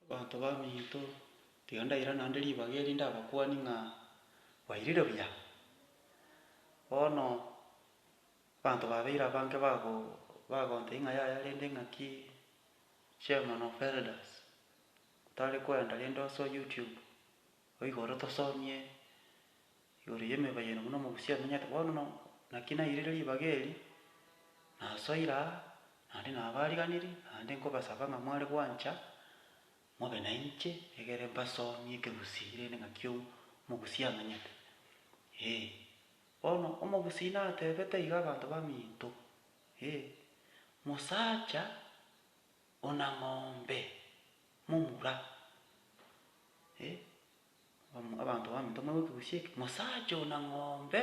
Abanto baminto, tiga ndaira naende ribaga eri ndabakuanie ng'a bairire buya. Bono abanto babeire abange bago bagontebia ng'a yaya rende ng'aki Chairman of Elders, otare kwenda rende ase YouTube Oigoro tosomie igoro y'emebayano buna omogusia amenyete bono no naki nairire ribaga eri, nasoire aa, naende nabariganirie, naende nkobasaba ng'a mware gwancha mobe nainche egere mbasomie ekegusii rende ng'aki omogusia amenyete. Ee, bono omogusii natebete iga abanto baminto, ee, mosacha. Ona ng'ombe momura, e, abanto baminto moigwe ekegusii eke, mosacha ona ng'ombe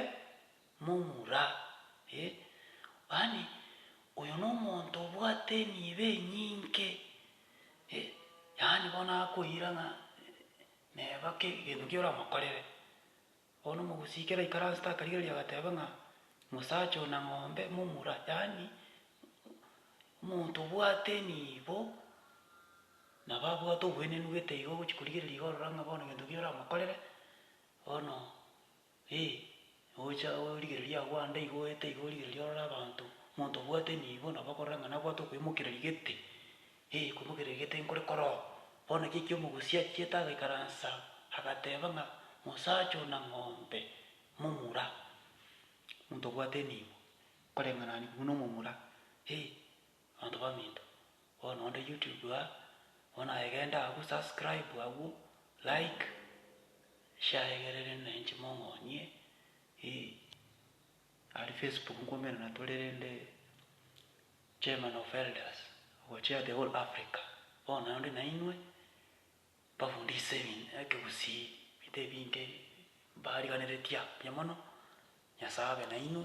momura, e, yaani oyo nomonto obwate emibe enyinge, e, yaani bono akoira ng'a neba kegento keria oramokorere. Oo nomogusii kera ikaransete akarigereria agateba ng'a mosacha oo na ng'ombe momura, yaani omonto obwate enibo nabo abwate obwenenu gete igo ogochi korigereria iga orora ng'a bono gento ki oramokorere bono eh, ogocha origereria agwo ande iga oete iga origereria orore abanto, omonto obwate enibo nabo akorora ng'a nabwate okoimokereria gete. Ee, komogera egete nkore koroo. Bono ekiagera ekio omogusi achiete agaikaransa, agateba ng'a mosacha oo na ng'ombe momura. Omonto obwate enibo, nkoreng'anani buna omomura. Ee, abanto baminto. Bono onde YouTube aa, bono aye genda agwo subscribe agwo, like, share egerere na inche mong'onie, ee. Aria Facebook nkoumera natore rende. Chairman of Elders ogochia the whole Africa, bono onde nainwe mbafundise ebinto ekegusii ebinto ebinge mbariganeretia mbuya mono, Nyasae abe nainwe.